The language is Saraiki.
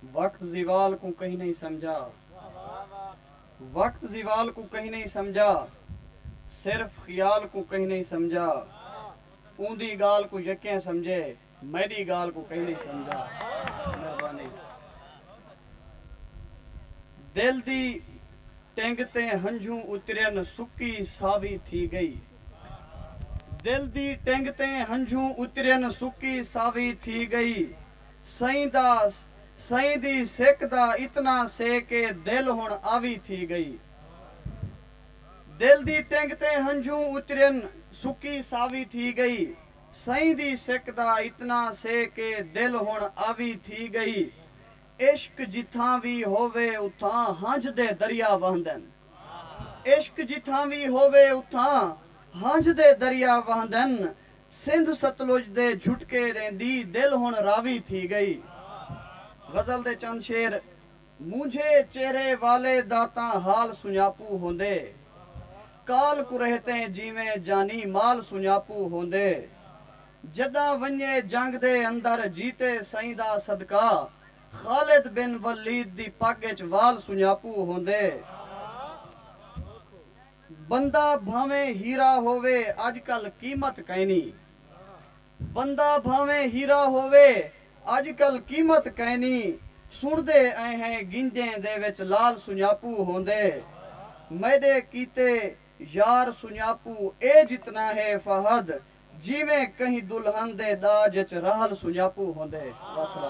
وقت زوال کوں کہیں نئیں سمجھا وقت زوال کوں کہیں نئیں سمجھا صرف خیال کوں کہیں نئیں سمجھا اوندی گالھ کوں یکیں سمجھے میڈی گالھ کوں کہیں نئیں سمجھا مہربانی دل دی ٹنگ تے ہنجھوں اترین سکی ساوی تھی گئی دل دی ٹنگ تے ہنجھوں اترین سکی ساوی تھی گئی سئیں دا سئیں دی سک دا اتنا سے کہ دل ہن آوی تھی گئی دل دی ٹنگ تے ہنجھوں اترین سکی ساوی تھی گئی سئیں دی سک دا اتنا سے کہ دل ہن آوی تھی گئی عشق جتھاں وی ہووے اتھاں ہنجھ دے دریا وہندن عشق جتھاں وی ہووے اتھاں ہنجھ دے دریا وہندن سندھ ستلج دے جھٹکے ݙیندی دل ہݨ راوی تھی ڳئی غزل دے چند شعر مونجھے چہرے والے دا تاں حال سنڄاپو ہوندے کال کریہتیں جیویں جانی مال سنڄاپو ہوندے جݙاں ونڄے جنگ دے اندر جیتے سئیں دا صدقہ خالد بن ولید دی پڳ اچ وال سنڄاپو ہوندے۔ بندہ بھانویں ہیرا ہووے اڄ کل قیمت کائنی بندہ بھانویں ہیرا ہووے اڄ کل قیمت کائنی سݨدے ائیں ہیں گنجیں دے وچ لال سنڄاپو ہوندے میݙے کیتے یار سنڄاپو اے جتنا ہے فہد جیویں کہیں دلہن دے ݙاج اچ رحل سنڄاپو ہوندے وسلام۔